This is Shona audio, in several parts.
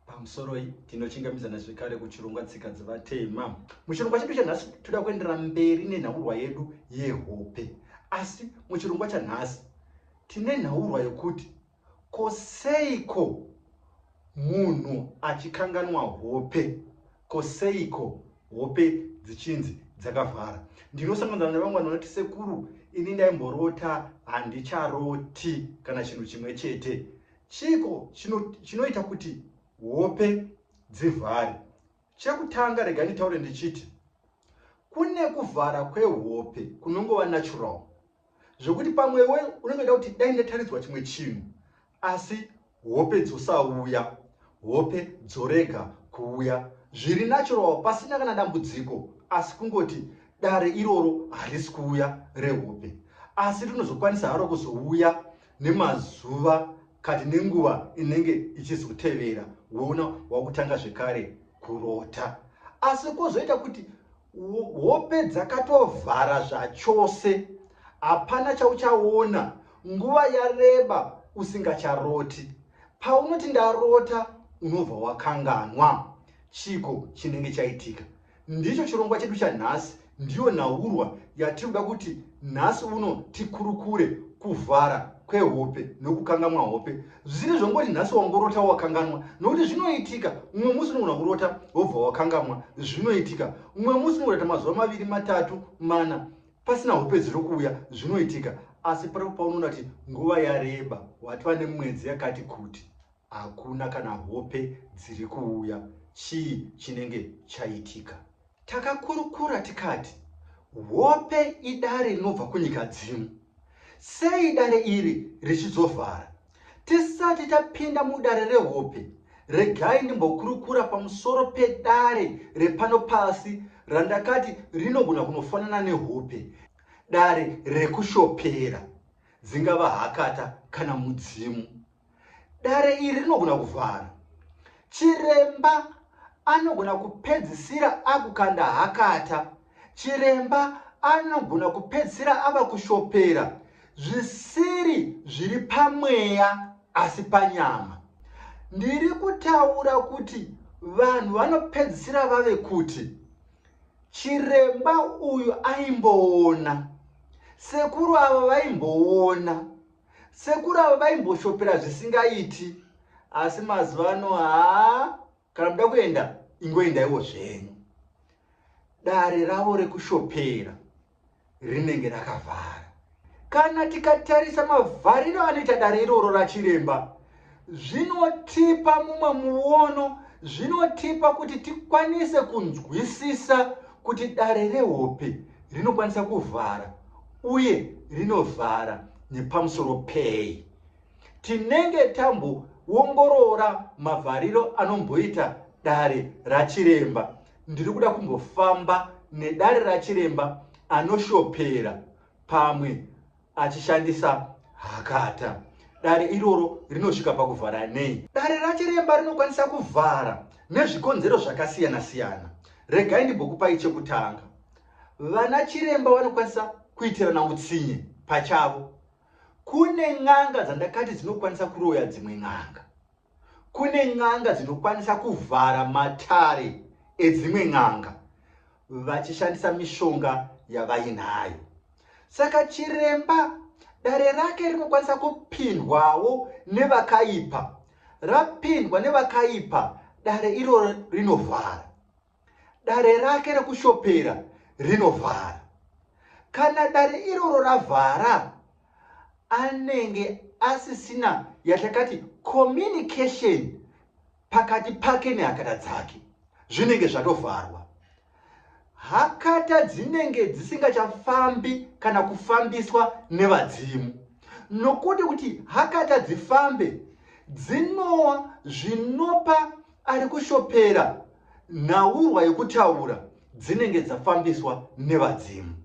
pamusoroi tinochingamidzana zvekare kuchirongwa tsika dzevatema muchirongwa chedu chanhasi toda kuendera mberi nenhaurwa yedu yehope asi muchirongwa chanhasi tine nhaurwa yokuti ko seiko munhu achikanganwa hope ko seiko hope dzichinzi dzakavhara ndinosanganzana nevamwe vanhu vanoti sekuru ini ndaimborota handicharoti kana chinhu chimwe chete Chiiko chinoita kuti hope dzivhare? Chekutanga rega nditaure ndichiti kune kuvhara kwehope kunongova natural zvekuti pamwe we unenge uda kuti dai ndataridzwa chimwe chinhu asi hope dzosauya hope dzorega kuuya zviri natural pasina kana dambudziko asi kungoti dare iroro harisi kuuya rehope asi rinozokwanisa haro kuzouya nemazuva kati nenguva inenge ichizotevera woona wakutanga zvekare kurota asi kozoita kuti hope dzakatovhara zvachose hapana chauchaona nguva yareba usingacharoti paunoti ndarota unobva wakanganwa chiko chinenge chaitika Ndicho chirongwa chedu chanhasi, ndiyo nhaurwa yatiri kuda kuti nhasi uno tikurukure, kuvhara kwehope nokukangamwa hope. Zvisiri zvongoti nhasi wangorota wakanganwa, nokuti zvinoitika umwe musi unogona kurota wobva wakangamwa, zvinoitika umwe musi unogona kuita mazuva maviri, matatu, mana pasina hope dziri kuuya, zvinoitika. Asi paripo paunoona kuti nguva yareba, watova nemwedzi yakati kuti, Hakuna kana hope dziri kuuya chii chinenge chaitika. Takakurukura tikati hope idare rinobva kunyika dzimu sei dare iri richizovhara tisati tapinda mudare rehope regai ndimbokurukura pamusoro pedare repano pasi randakati rinogona kunofanana nehope dare rekushopera dzingava hakata kana mudzimu Dare iri rinogona kuvhara. Chiremba anogona kupedzisira akukanda hakata. Chiremba anogona kupedzisira ava kushopera zvisiri zviri pamweya asi panyama. Ndiri kutaura kuti vanhu vanopedzisira vave kuti chiremba uyu aimboona, sekuru ava vaimboona. Sekuru ava vaimboshopera zvisingaiti asi mazuva ano haa kana muda kuenda ingoendaiwo zvenyu. Dare ravo rekushopera rinenge rakavhara. Kana tikatarisa mavhariro anoita dare iroro rachiremba zvinotipa mumwe muono zvinotipa kuti tikwanise kunzwisisa kuti dare rehope rinokwanisa kuvhara uye rinovhara nepamusoro pei tinenge tamboongorora mavhariro anomboita dare rachiremba ndiri kuda kumbofamba nedare rachiremba anoshopera pamwe achishandisa hakata. Dare iroro rinosvika pakuvhara nei? Dare rachiremba rinokwanisa kuvhara nezvikonzero zvakasiyana-siyana. Regai ndimbokupai chekutanga. Vana chiremba vanokwanisa kuitirana utsinye pachavo. Kune n'anga dzandakati dzinokwanisa kuroya dzimwe n'anga. Kune n'anga dzinokwanisa kuvhara matare edzimwe n'anga vachishandisa mishonga yavainayo. Saka chiremba dare rake rinokwanisa kupindwawo nevakaipa. Rapindwa nevakaipa, dare iroro rinovhara. Dare rake rekushopera rinovhara. Kana dare iroro ravhara, anenge asisina yatakati communication pakati pake nehakata dzake, zvinenge zvatovharwa. Hakata dzinenge dzisingachafambi kana kufambiswa nevadzimu, nokuti kuti hakata dzifambe dzinowa zvinopa Ari kushopera nhaurwa yokutaura dzinenge dzafambiswa nevadzimu.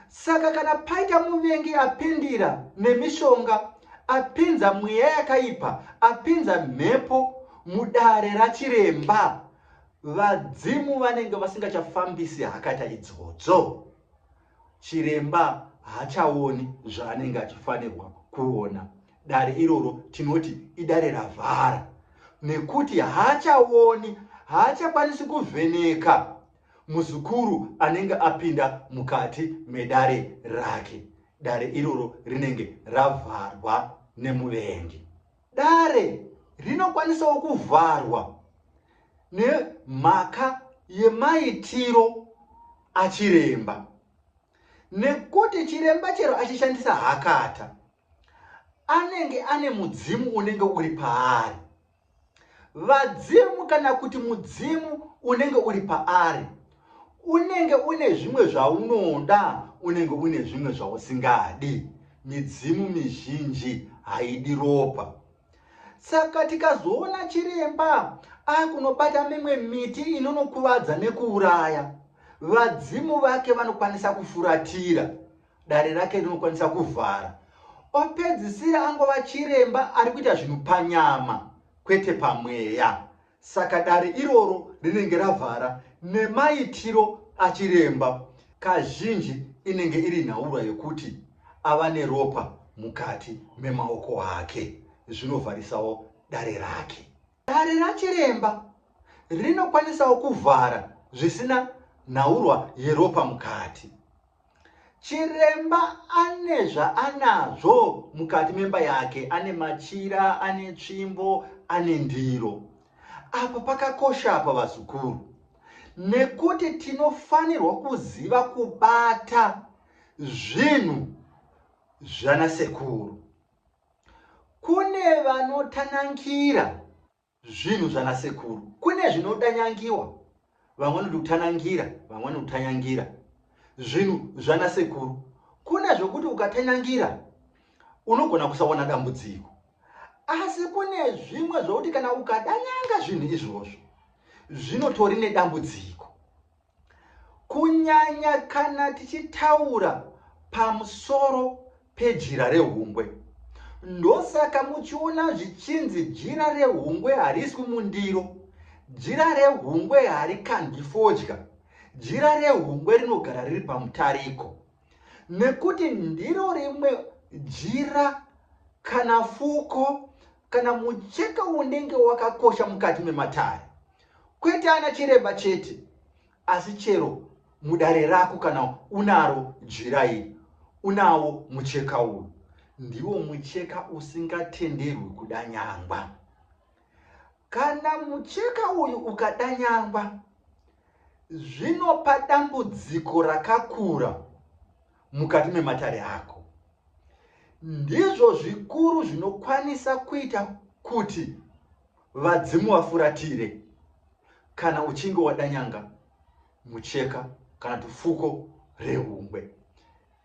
Saka kana paita muvengi apindira nemishonga, apinza mweya yakaipa, apinza mhepo mudare rachiremba, vadzimu vanenge vasingachafambisi hakata idzodzo. Chiremba haachaoni zvaanenge achifanirwa kuona. Dare iroro tinoti idare ravhara nekuti haachaoni, haachakwanisi kuvheneka muzukuru anenge apinda mukati medare rake. Dare iroro rinenge ravharwa nemuvengi. Dare rinokwanisawo kuvharwa nemhaka yemaitiro achiremba nekuti chiremba chero achishandisa hakata anenge ane mudzimu unenge uri paari vadzimu kana kuti mudzimu unenge uri paari Unenge une zvimwe zvaunoda, unenge une zvimwe zvausingadi. Midzimu mizhinji haidi ropa. Saka tikazoona chiremba akunobata mimwe miti inonokuvadza nekuuraya, vadzimu vake vanokwanisa kufuratira, dare rake rinokwanisa kuvhara. Opedzisira angova chiremba ari kuita zvinhu panyama, kwete pamweya. Saka dare iroro rinenge ravhara nemaitiro achiremba kazhinji inenge iri nhaurwa yekuti ava neropa mukati memaoko ake zvinovharisawo dare rake. Dare rachiremba rinokwanisawo kuvhara zvisina nhaurwa yeropa mukati. Chiremba ane zvaanazvo mukati memba yake, ane machira, ane tsvimbo, ane ndiro. Apa pakakosha apa vazukuru, nekuti tinofanirwa kuziva kubata zvinhu zvana sekuru. Kune vanotanankira Zvinhu zvana sekuru kune zvinotanyangiwa vamwe vanoti kutanangira vamwe vanoti kutanyangira. Zvinhu zvana sekuru kune zvokuti ukatanyangira unogona kusaona dambudziko asi kune zvimwe zvokuti kana ukadanyanga zvinhu izvozvo zvinotori nedambudziko Kunyanya kana tichitaura pamusoro pejira rehungwe. Ndosaka muchiona zvichinzi jira rehungwe hariswi mundiro, jira rehungwe harikandwi fodya, jira rehungwe rinogara riri pamutariko. Nekuti ndiro rimwe jira kana fuko kana mucheka unenge wakakosha mukati mematare. kwete ana chiremba chete asi chero mudare rako kana unaro jira iri unawo mucheka uyu ndiwo mucheka usingatenderwi kudanyangwa kana mucheka uyu ukadanyangwa zvinopa dambudziko rakakura mukati mematare ako ndizvo zvikuru zvinokwanisa kuita kuti Vadzimu vafuratire kana uchinge wadanyanga mucheka kana tufuko rehungwe.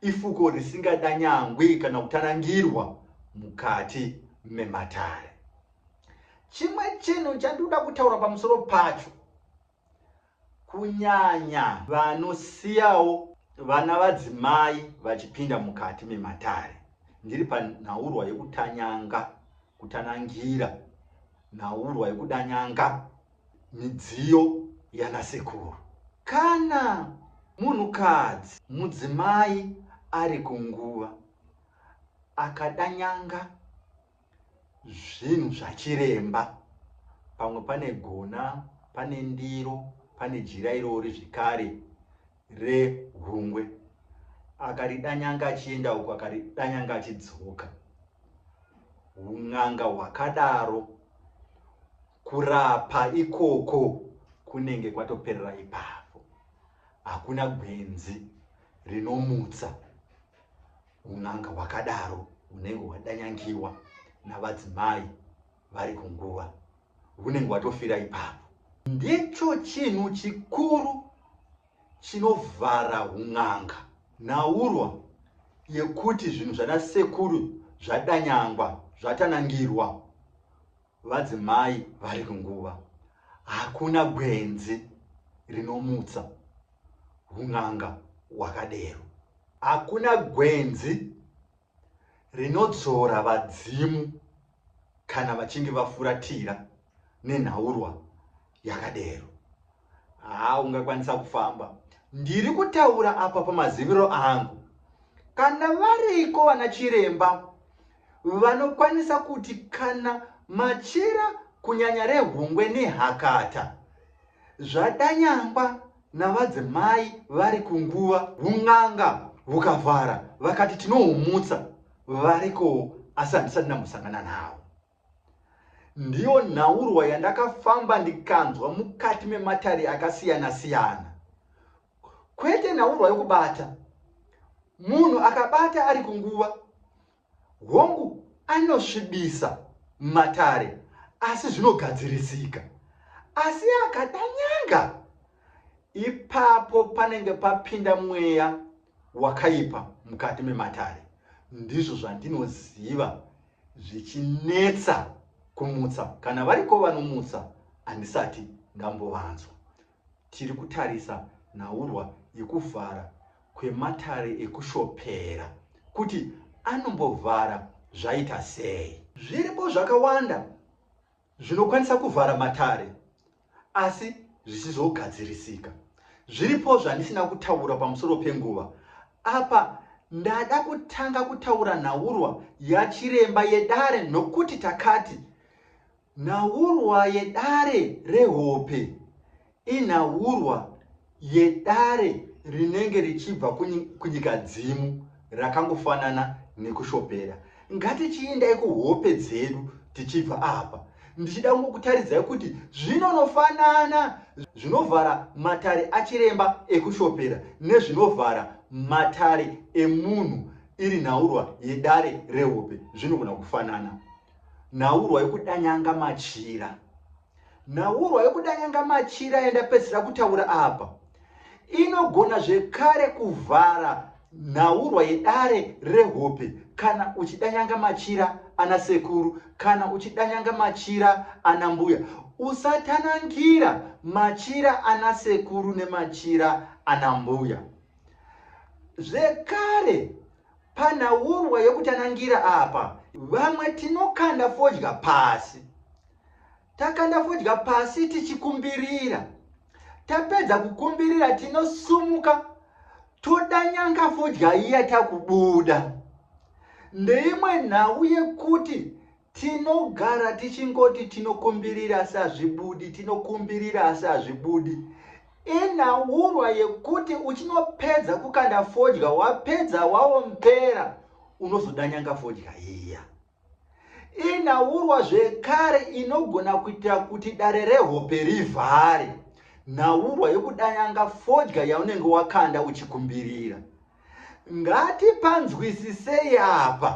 Ifuko risingadanyangwi kana kutanangirwa mukati mematare. Chimwe chinhu chandoda kutaura pamusoro pacho kunyanya vanosiyawo vana vadzimai vachipinda mukati mematare ndiri panhaurwa yekutanyanga kutanangira nhaurwa yekudanyanga midziyo yanasekuru kana munhukadzi mudzimai ari kunguva akadanyanga zvinhu zvachiremba pamwe pane gona pane ndiro pane jira irori zvikare rehungwe akaridanyanga achienda uko akaridanyanga achidzoka un'anga hwakadaro kurapa ikoko kunenge kwatoperera ipapo hakuna gwenzi rinomutsa Un'anga hwakadaro hunenge hwadanyangiwa navadzimai vari kunguva, hunenge hwatofira ipapo. Ndicho chinhu chikuru chinovhara un'anga. Nhaurwa yekuti zvinhu zvana sekuru zvadanyangwa, zvatanangirwa, Vadzimai vari kunguva hakuna gwenzi rinomutsa hun'anga hwakadero. Hakuna gwenzi rinodzora vadzimu kana vachinge vafuratira nenhaurwa yakadero. Haa ungakwanisa kufamba. Ndiri kutaura apa pamaziviro angu. Kana variko vana chiremba vanokwanisa kuti kana machira kunyanya rehungwe nehakata zvadanyangwa navadzimai vari kunguva vun'anga vukavhara vakati tinohumutsa varikowo asi handisati ndambosangana navo. Ndiyo nhaurwa yandakafamba ndikanzwa mukati mematare akasiyana siyana. Kwete nhaurwa yokubata. Munhu akabata ari kunguva. Hongu anosvibisa matare asi zvinogadzirisika. Asi akada nyanga. Ipapo panenge papinda mweya wakaipa mukati mematare. Ndizvo zvandinoziva zvichinetsa kumutsa kana variko vanomutsa handisati ndambovanzwa tiri kutarisa nhaurwa yekuvhara kwematare ekushopera kuti anombovhara zvaita sei zviripo zvakawanda zvinokwanisa kuvhara matare asi zvisizogadzirisika. Zviripo zvandisina kutaura pamusoro penguva. Apa ndada kutanga kutaura nhaurwa yachiremba yedare nokuti takati nhaurwa yedare rehope inhaurwa yedare rinenge richibva kunyika dzimu rakangofanana nekushopera. Ngatichiindai kuhope dzedu tichibva apa. Ndichida kungokutaridzai kuti zvinonofanana zvinovhara matare achiremba ekushopera nezvinovhara matare emunhu iri nhaurwa yedare rehope zvinogona kufanana. Nhaurwa yekudanyanga machira. Nhaurwa yokuda nyanga machira yandapedzisira kutaura apa inogona zvekare kuvhara nhaurwa yedare rehope kana uchida nyanga machira ana sekuru kana uchida nyanga machira ana mbuya usatanangira machira ana sekuru nemachira ana mbuya zvekare panhaurwa yokutanangira apa vamwe tinokanda fodya pasi Takanda fodya pasi tichikumbirira. Tapedza kukumbirira tinosumuka toda nyanga fodya iya takubuda. Ndeimwe nhau yekuti tinogara tichingoti tinokumbirira asi hazvibudi, tinokumbirira asi hazvibudi. Inhaurwa yekuti uchinopedza kukanda fodya wapedza waombera unozoda nyanga fodya iya. Inhaurwa zvekare inogona kuitira kuti dare rehope rivhare nhaurwa yokudanyanga fodya yaunenge wakanda uchikumbirira. Ngatipanzwisisei apa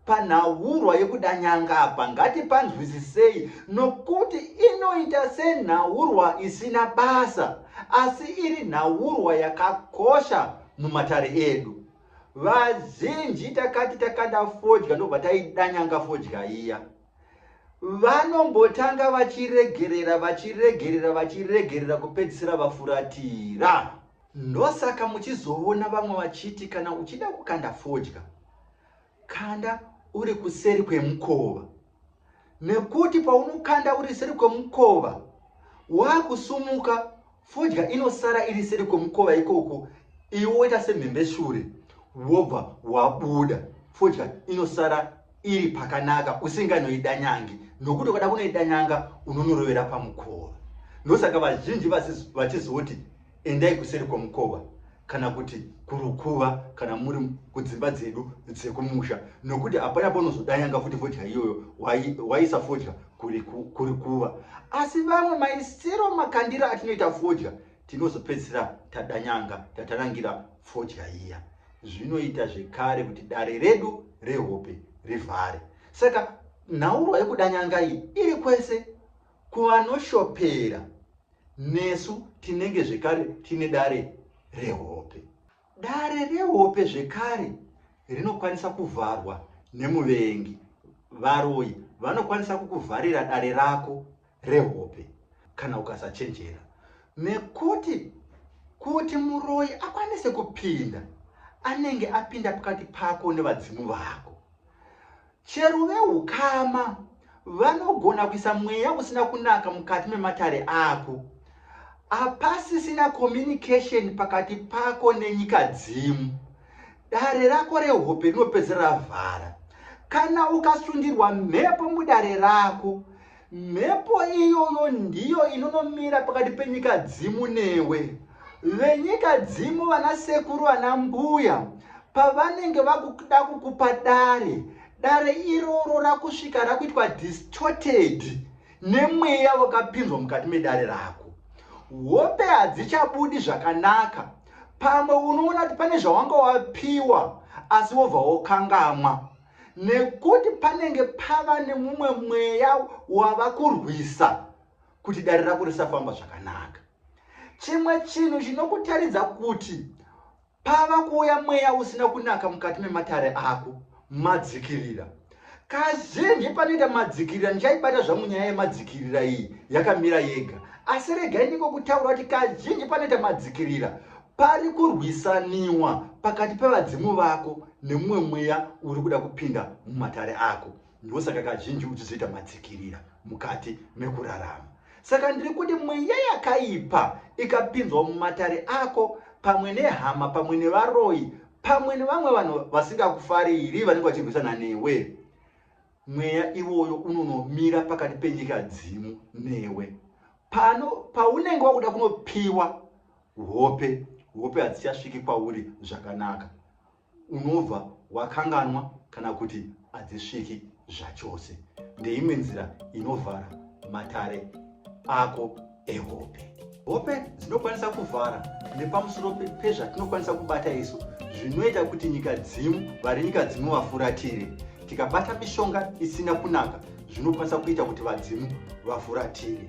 panhaurwa yekudanyanga apa ngatipanzwisisei nokuti inoita senhaurwa isina basa asi iri nhaurwa yakakosha mumatare edu. Vazinji takati takada fodya ndobva taidanyanga fodya iya. Vanombotanga vachiregerera vachiregerera vachiregerera kupedzisira vafuratira. Ndosaka muchizoona vamwe vachiti kana uchida kukanda fodya Kanda uri kuseri kwemukova nekuti paunokanda uri seri kwemukova wakusumuka fodya inosara iri seri kwemukova ikoko iwe woita semhembe shure wobva wabuda fodya inosara iri pakanaka usinganoidanyangi nokuti ukada kunoidanyanga unonorovera pamukova ndosaka vazhinji vachizoti Endai kuseri kwemukova kana kuti kurukuva kana muri kudzimba dzedu dzekumusha nokuti hapana paunozodanyanga futi fodya iyoyo waisa fodya kuri kuva asi vamwe maisiro makandira atinoita fodya tinozopedzisira tadanyanga tatarangira fodya iya zvinoita zvekare kuti dare redu rehope rivhare saka nhaurwa yekudanyanga iyi iri kwese Kuvanoshopera, nesu tinenge zvekare tine dare rehope. Dare rehope zvekare rinokwanisa kuvharwa nemuvengi. Varoyi vanokwanisa kukuvharira dare rako rehope kana ukasachenjera nekuti kuti muroyi akwanise kupinda anenge apinda pakati pako nevadzimu vako. Chero vehukama vanogona kuisa mweya usina kunaka mukati mematare ako. Apasisina communication pakati pako nenyika dzimu. Dare rako rehope rinopedzera ravhara. Kana ukasundirwa mhepo mudare rako, Mhepo iyoyo ndiyo inonomira pakati penyika dzimu newe. Venyika dzimu vana sekuru vana mbuya pavanenge vakuda kukupa dare, dare iroro rakusvika rakuitwa distorted nemweya wakapinzwa mukati medare rako. Hope hadzichabudi zvakanaka. Pamwe unoona kuti pane zvawanga wapiwa asi wobva wokangamwa. nekuti panenge pava nemumwe mweya wava kurwisa kuti dare rako risafamba zvakanaka chimwe chinhu chinokutaridza kuti pava kuuya mweya usina kunaka mukati mematare ako madzikirira kazhinji panoita madzikirira ndichaibata zvangu nyaya yemadzikirira iyi yakamira yega asi regai ndiko kutaura kuti kazhinji panoita madzikirira pari kurwisaniwa pakati pevadzimu vako nemumwe mweya uri kuda kupinda mumatare ako ndosaka kazhinji uchizoita matsikirira mukati mekurarama saka ndiri kuti mweya yakaipa ikapinzwa mumatare ako pamwe nehama pamwe nevaroyi pamwe nevamwe vanhu vasingakufariri vanenge vachirwisana newe mweya iwoyo unonomira pakati penyika dzimu newe pano paunenge wakuda kunopiwa hope hope hadzichasviki kwauri zvakanaka unobva wakanganwa kana kuti hadzisviki zvachose ndeimwe nzira inovhara matare ako ehope hope dzinokwanisa kuvhara nepamusoro pezvatinokwanisa kubata isu zvinoita kuti nyika dzimu vari nyika dzimu vafuratire tikabata mishonga isina kunaka zvinokwanisa kuita kuti vadzimu vafuratire